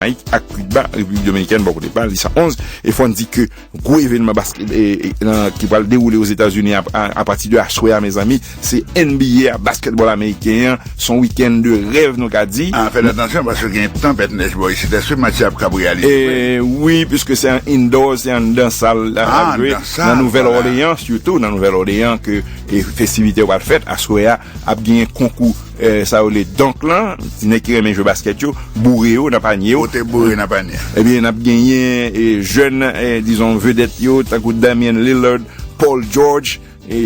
Jamaïk ak Cuba, Repiblik Dominikèn bò kote pa l, di sa 11, e fò n di ke gwo evenman baskèt nan ki pral dewoule Ozetazini apati de aswè a mezanmi se NBA a, baskètbòl ameriken an, s on wikenn de rèv nou ka di. Fèt atansyon paske gen tanpèt nèj bò isit, èske match la ap kab reyalize vre? Wi, piske se an indoor, se anndan sal l ap jwe, nan Nouvèl Òleyan sitou, nan Nouvèl Òleyan ke festivite yo pral fèt, aswè a ap genyen konkou. Sa yo rele dunk lan, ti nèg ki renmen jwe baskèt yo, boure yo nan panye yo. Pote boure nan panye. Ebyen, n ap genyen jèn, dizon vedèt yo, tankou Damian Lillard, Paul George,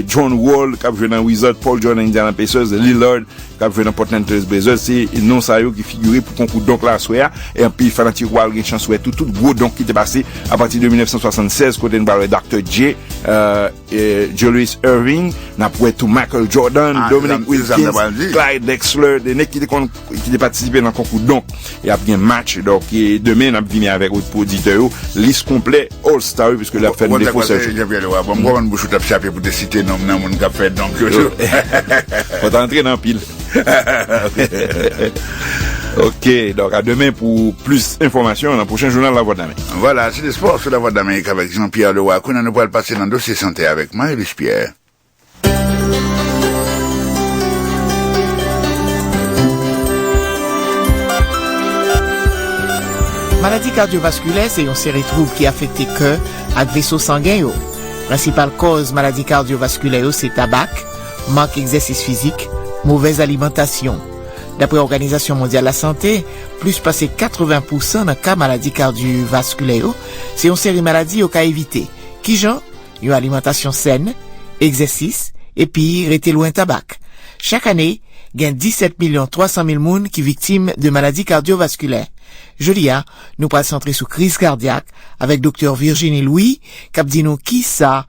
John Wall k ap jwe nan Wizards, Paul George nan Indiana Pacers, Lillard k ap jwe nan Portland Trail Blazers. Se non sa yo ki figire pou konkou dunk la aswè a. E anpil fanatik yo pral gen chans wè tou tout gwo dunk ki te pase apati de 1976 kote n pral wè Dr. J. Julius Erving, n ap wè tou Michael Jordan, Dominique Wilkins, Clyde Drexler, 2 nèg ki te konn, ki te patisipe nan konkou donk. E ap gen match, donk e demen n ap vini avèk ou pou oditè yo, lis konplè All Star yo piske lè ap fè nou defo sèl chou. Jean-Pierre Leroy, bon m konprann bouch ou t ap chape pou te site non m nan moun k ap fè donk yo tou. Fò w ta antre nan pil. Ok, donk a demen pou plis enfòmasyon nan pwochen jounal La Voix de l'Amérique. Vwala, se te spò sou La Voix de l'Amérique avèk Jean Pierre Leroy. Kounye a nou pral pase nan dosye sante avèk Marie-Louise Pierre. Maladi kardyovaskilè se yon seri twoub ki afekte kè ak veso sangen yo. Prensipal kòz maladi kardyovaskilè yo se tabak, mank egzèsis fizik, movèz alimantasyon. Daprè Òganizasyon Mondyal Lasante, plis pase 80 pousan nan ka maladi kardyovaskilè yo se yon seri maladi yo ka evite. Kijan? Yon alimantasyon sèn, egzèsis, epi rete lwen tabak. Chak ane, gen 17 milyon 300 mil moun ki viktim de maladi kardyovaskilè. Jodi a, nou pral santre sou kriz kardyak avèk Doktè Virginie Louis k ap di nou kisa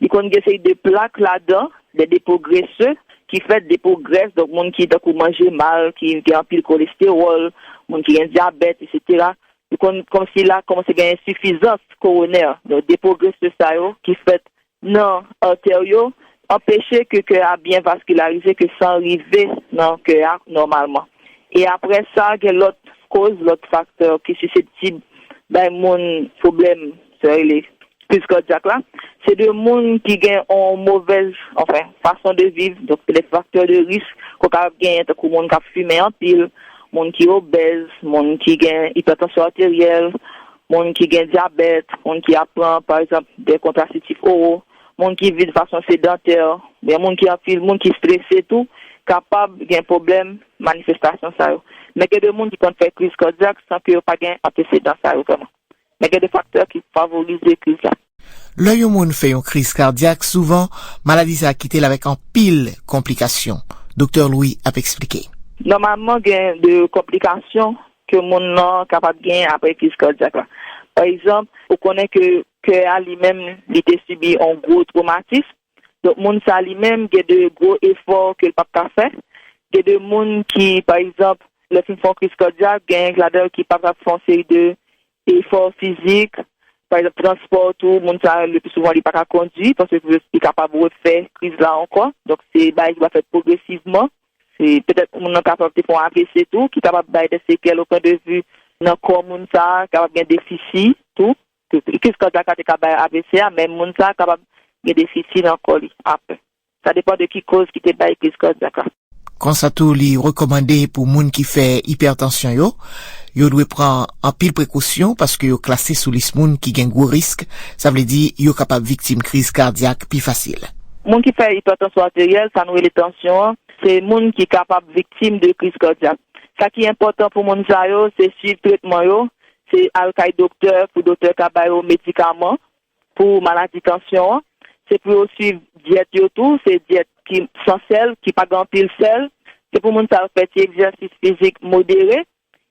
Li konn gen seri de plak ladan, des dépôts graisseux, ki fèt depo grès, donk moun ki tankou manje mal, ki gen anpil kolestewòl, moun ki gen dyabèt, eksetera. Li konn kòmsi la kòmanse gen ensifizans koronè. Donk depo grese sa yo ki fèt nan artè yo anpeche ke kè a byen vaskilarize, ke san rive nan kè a nòmalman. E aprè sa gen lòt koz, lòt faktè ki siseptib bay moun pwoblèm. Sa rele kriz kadyak la, se de moun ki gen yon movèz, anfen, fason de viv, donk se de faktè de risk ke w kapab genyen tankou moun k ap fimen anpil, moun ki obèz, moun ki gen ipètansyon ateryèl, moun ki gen dyabèt, moun ki ap pran, pa egzanp, de kontrasitif oro, moun ki viv de fason sedantè, oubyen moun ki anpil, moun ki strese tou kapab gen pwoblèm manifestasyon sa yo. Men gen de moun ki konn fè kriz kadyak san ke yo pa gen antesedan sa yo vrèman. Men gen de faktè ki favorize kriz la. Lè yon moun fè yon kriz kadyak, souvan, maladi sa a kite l avèk anpil konplikasyon. Doktè Louis ap eksplike. Nòmalman gen de konplikasyon ke moun lan kapab genyen apre kriz kadyak la. Pa egzanp, ou konnen ke kè a li menm li te sibi yon gwo twomatism, Donk moun sa li menm gen de gwo efò ke l pap ka fè. Gen de moun ki pa egzanp lè fin fè yon kriz kadyak genyen ladan yo ki pap ka fè yon seri de efò fizik, pa egzanp transpò tou moun sa le pi souvan li pa ka kondwi paske li kapab refè kriz la ankò. Donk se bagay ki va fèt pwogresivman. Se petèt moun nan kapab te fè yon avc tou ki kapab bay de sekèl o pwen de vi nan kò moun sa kapab gen defisi tou. Kis kòd la ka te ka bay avc a, men moun sa kapab gen defisi nan kò li aprè. Sa depan de ki koz ki te bay kriz kòdyak la. Konsa tou li rekòmande pou moun ki fè ipètansyon yo, yo dwe pran anpil prekosyon paske yo klase sou lis moun ki gen gwo risk, sa vle di yo kapab viktim kriz kadyak pi fasil. Moun ki fè ipètansyon ateryèl, sa nou rele tansyon an, se moun ki kapab viktim de kriz kòdyak. Sa ki enpòtan pou moun sa yo, se swiv tretman yo, Se al kay doktè pou doktè ka ba yo medikaman pou maladi tansyon an. Se pou yo swiv dyèt yo tou, se dyèt ki san sèl, ki pa gen anpil sèl. Se pou moun sa yo fè ti egzèsis fizik modere.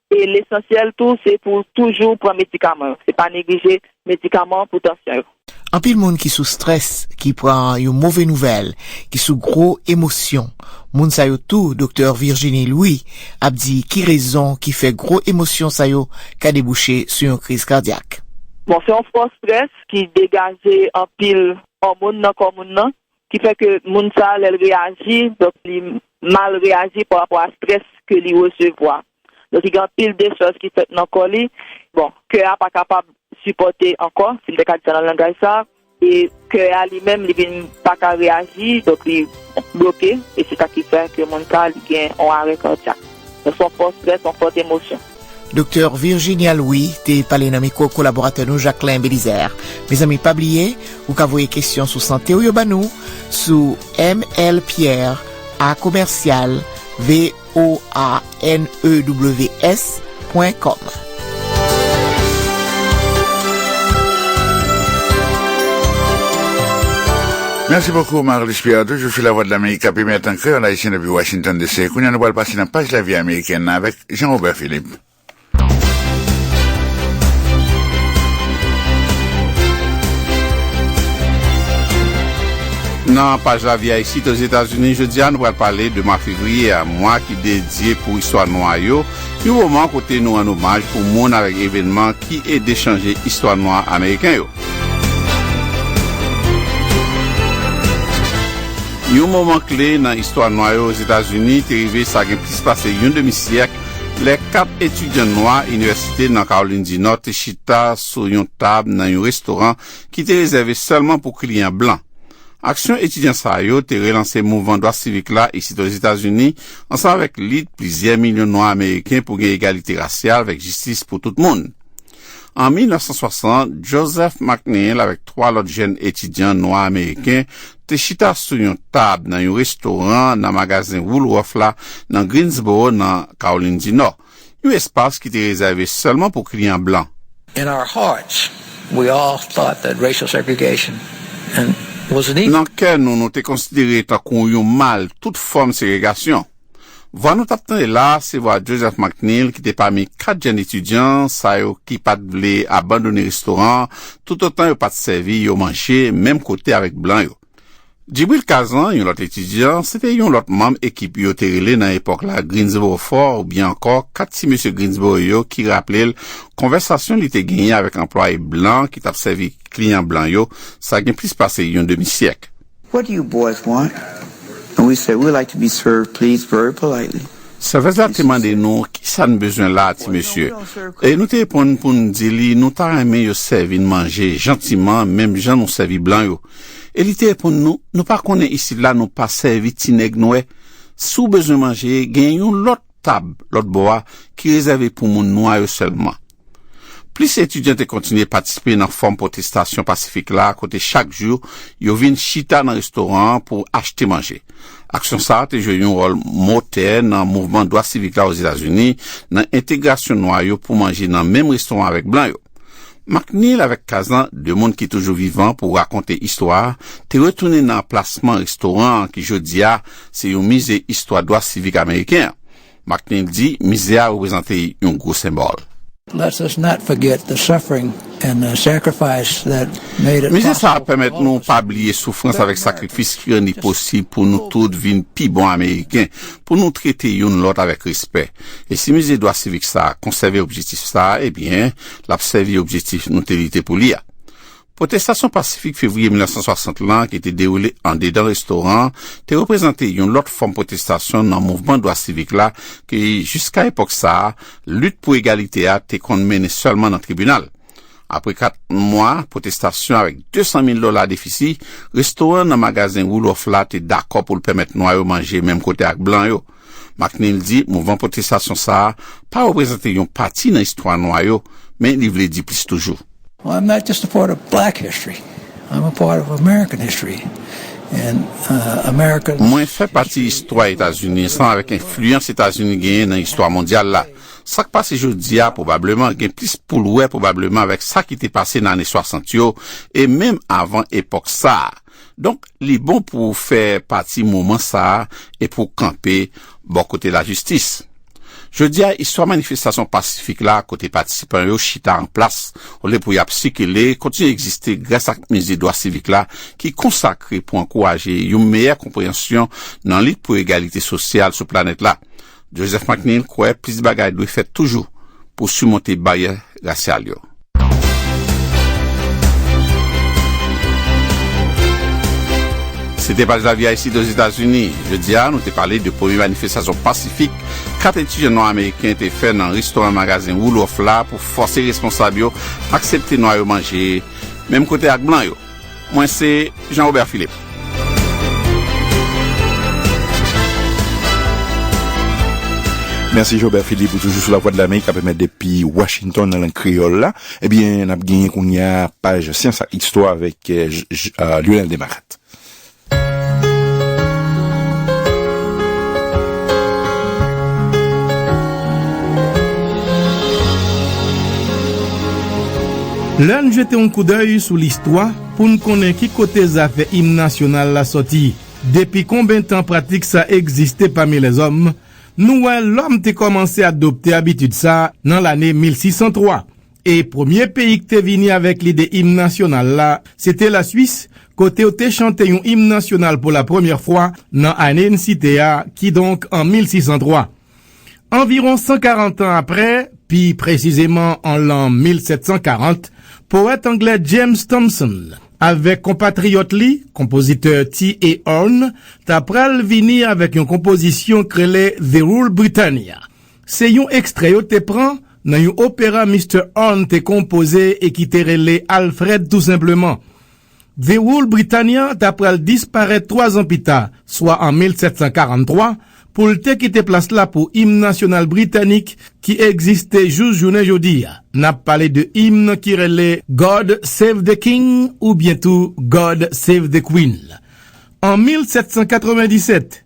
E lesansyèl tou se pou toujou pran medikaman yo. Se pa neglije medikaman pou tansyon yo. Anpil moun ki sou strès, ki pran yon move nouvèl, ki sou gwo emosyon. Moun sa yo tou doktè Virginie Louis ap di ki rezon ki fè gwo emosyon sa yo ka debouche sou yon kriz kadyak. Bon, se yon fò strès ki degaje anpil òmon nan kò moun nan, Ki fè ke moun sa lè l reyaji, donk li mal reyaji pa rapò a strès ke li resevwa. Donk li gen anpil dechaj ki fèt nan kò li. Bon, kè a pa kapab sipòte ankò, si m te ka di sa nan langaj sa a. E kè a li menm li vin pa ka reyaji, donk li bloke. E se sa ki fè ke moun sa li gen yon arè kadyak. Donk se yon fò strès, yon fòt emosyon. Doktè Virginia Louis te pale nan mikwo kolaboratè nou Jacquelin Belizaire. Mezanmi pa bliye ou ka voye kesyon sou sante ou yo ba nou sou mlpierre a commercial voanews pwen kòm. Merci beaucoup Marilus Pierre toujou sou Lavwadlamerik kap emèt an kreyòl ayisyen depi Washington DC. Kounye a nou pral pase nan paj lavi amerikèn nan avèk Jean Robert Philippe. Nan paj lavi Ayisite Ozetazini jodi a, nou pral pale de mwa fevriye a, mwa ki dedye pou istwa nwa yo, yon moman kote nou rann omaj pou moun avèk evènman ki ede chanje istwa nwa ameriken yo. Yon moman kle nan istwa nwa yo Ozetazini te rive sa gen plis pase yon demi syèk lè kat etidyan nwa inivèsite nan Kawolin di Nò te chita sou yon tab nan yon restoran ki te rezève sèlman pou kliyan blan. Aksyon etidyan sa yo te relanse mouvman dwa sivik la isit Ozetazini ansanm avèk lit plizyè milyon nwa ameriken pou gen egalite rasyal vèk jistis pou tout moun. An 1960, Joseph McNeil avèk twa lòt jèn etidyan nwa ameriken te chita sou yon tab nan yon restoran nan Magazen Woolworth la nan Greensboro, nan Kawolin di Nò, yon espas ki te rezève sèlman pou kliyan blan. Nan kè nou, nou te konsidere tankou yon mal tout fòm segregasyon. Vwa nou t ap tande la a se vwa Joseph McNeal ki te pami kat jèn etidyan sa yo ki pa t vle abandone restoran an toutotan yo pa t sèvi yo manje menm kote avèk blan yo. Djibril Kazan, yon lòt etidyan, se te yon lòt manm ekip yo te rele nan epòk la Greensboro Four oubyen ankò kat ti mesye Greensboro yo ki raple l konvèsasyon li te genyen avèk anplwaye blan ki t ap sèvi kliyan blan yo sa gen plis pase yon demi syèk. What do you boys want? And we said, We would like to be served, please, very politely. Sèvèz la te mande nou ki sa n bezwen la a ti mesye, e nou te reponn pou n di li nou ta renmen yo sèvi n manje jantiman menm jan nou sèvi blan yo. E li te reponn nou, Nou pa konnen isit la nou pa sèvi ti nèg nwè? Si w bezwen manje, gen yon lòt tab lòtbò a ki rezève pou moun nwa yo sèlman. Plis etidyan te kontinye patisipe nan fòm pwotestasyon pasifik la kote chak jou yo vin chita nan restoran an pou achte manje. Aksyon sa a te jwe yon wòl motè nan mouvman dwa sivik la Ozetazini nan entegrasyon nwa yo pou manje nan menm restoran avèk blan yo. McNeal avèk Kazan, de moun ki toujou vivan pou rakonte istwa a, te retounen nan anplasman restoran an ki jodi a se yon mize istwa dwa sivik ameriken an. McNeil di mize a reprezante yon gwo senbòl. Mize sa a pèmèt nou pa bliye soufrans avèk sakrifis ki rann li posib pou nou tout vin pi bon Ameriken, pou nou trete youn lòt avèk respè. E si Mize Dwa Sivik sa a konsève objektif sa a, ebyen, l ap sèvi objektif nou te lite pou li a. Pwotestasyon pasifik fevriye 1960 lan ki te dewoule andedan restoran an te reprezante yon lòt fòm pwotestasyon nan mouvman dwa sivik la ke jiska epòk sa a, lit pou egalite a te konn mennen sèlman nan tribinal. Apre kat mwa pwotestasyon avèk 200 mil dola defisi, restoran nan Magazen Roeloffe la te dakò pou l pèmèt nwa yo manje menm kote ak blan yo. McNeil di mouvman pwotestasyon sa a pa reprezante yon pati nan istwa nwa yo, men li vle di plis toujou. Mwen fè pati istwa Etazini ansanm avèk enfliyans Etazini genyen nan istwa mondyal la. Sa k pase jodi a pwobableman gen plis pou l wè pwobableman avèk sa ki te pase nan ane 60 yo e menm avan epòk sa a. Donk, li bon pou w fè pati moman sa a e pou w kanpe bò kote lajistis. Jodi a, istwa manifestasyon pasifik la kote patisipan yo chita an plas olye pou y ap sikile kontinye egziste gras ak Mize Dwa Sivik la ki konsakre pou ankouraje yon meyè konpreyansyon nan lit pou egalite sosyal sou planèt la. Joseph McNeil kwè plis bagay dwe fèt toujou pou simonte baryè rasyal yo. Se te Paj Lavi a isit Ozetazini. Jodi a, nou te pale de premye manifestasyon pasifik 4 etidyan nwa ameriken te fè nan restoran Magazen Woolworth la pou fòse responsab yo aksepte nwa yo manje menm kote ak blan yo. Mwen se Jean Robert Philippe. Mèsi Jean Robert Philippe ou toujou sou la vwa de l'Amérique kap emèt depi Washington nan lang kreyòl la. Ebyen nap genyen kounye a paj syans ak istwa avèk Lionel Desmarattes. Lè n jete yon koudèy sou listwa pou n konnen ki kote zafè Im Nasyonal la sòti, depi konben tan pratik sa egziste pami lèzòm, nou wè lòm te kòmanse adopte abitid sa nan lane 1603. E premye peyi k te vini avèk lide im nasyonal la, se te Laswis, kote yo te chante yon im nasyonal pou lapremyè fwa nan ane n site a, kidonk an 1603. Anviwon 140 an apre, pi presizeman an lan 1740, powèt anglè James Thomson avèk konpatriyòt li, konpozitè T.A. Orne, ta pral vini avèk yon konpozisyon k rele The Rule Britannia, Se yon ekstrè yo te pran nan yon opera Mister Arne te konpoze e ki te rele Alfred tou senpleman. The Rule Britannia ta pral disparèt twazan pita, swa an 1743, pou l te kite plas la pou Im Nasyonal Britanik ki egziste jous jounen jodi a. N ap pale de im ki rele God Save the King oubyen tou God Save the Queen. An 1797,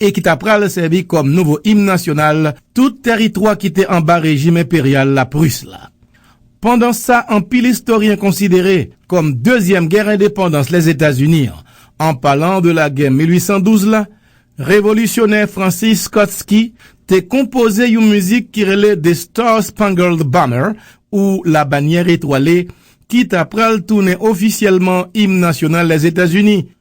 e ki ta pral sèvi kòm nouvo im nasyonal tout tèritwa ki te anba rejim enperyal lapris la. Pandan sa anpil istoryen konsidere kòm dezyèm gè endepandans Lèzetazini an, an palan de lagè 1812 la, revolisyonè Francis Scott Key te konpoze yon mizik ki rele The Star Spangled Banner ou Labanyè Etwale ki ta pral tounen ofisyèlman im nasyonal Lèzetazini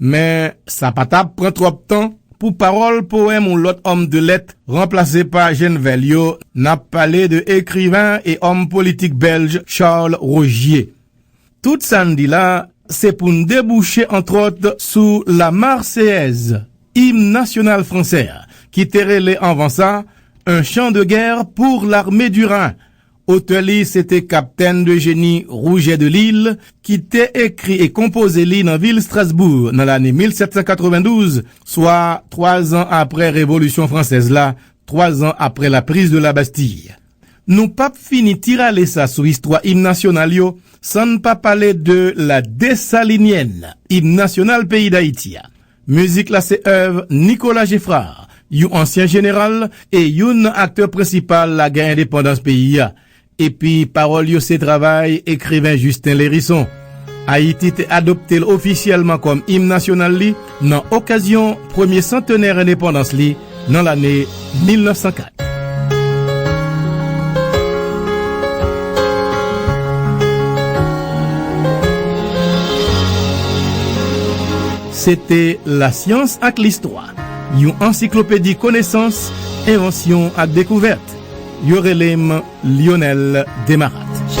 Men, sa pa t ap pran twòp tan pou pawòl powèm yon lòt òm de lèt ranplase pa Jenvel yo, n ap pale de ekriven e òm politik bèlj Charles Rogier. Tout sa n di la, se pou n debouche antwòt sou La Marseillaise, im nasyonal fransè a, ki te rele anvan sa, Un chant de guerre pour l'armée du Rhin, Otè li se te Kaptenn de Jeni Rougè de Lil ki te ekri e konpoze li nan vil Strasbou nan lane 1792, swa twazan apre Revolisyon Fransèz la, twazan apre la Prise de la Bastille. Nou pa p fini ti rale sa sou istwa Im Nasyonal yo san n pa pale de La Dessalinienne, Im Nasyonal peyi Dayiti a. Mizik la se èv Nicolas Geffrard, yon ansyen jeneral e youn nan aktè prensipal lagè endepandans peyi a, epi pawòl yo se travay ekriven Justin Lherisson. Ayiti te adopte l ofisyèlman kòm im nasyonal li nan okazyon premye santenè endepandans li, nan lane 1904. Se te Lasyans ak Listwa, yon ansiklopedi konesans, envansyon ak dekouvèt. Yo rele m Lyonel Desmarattes.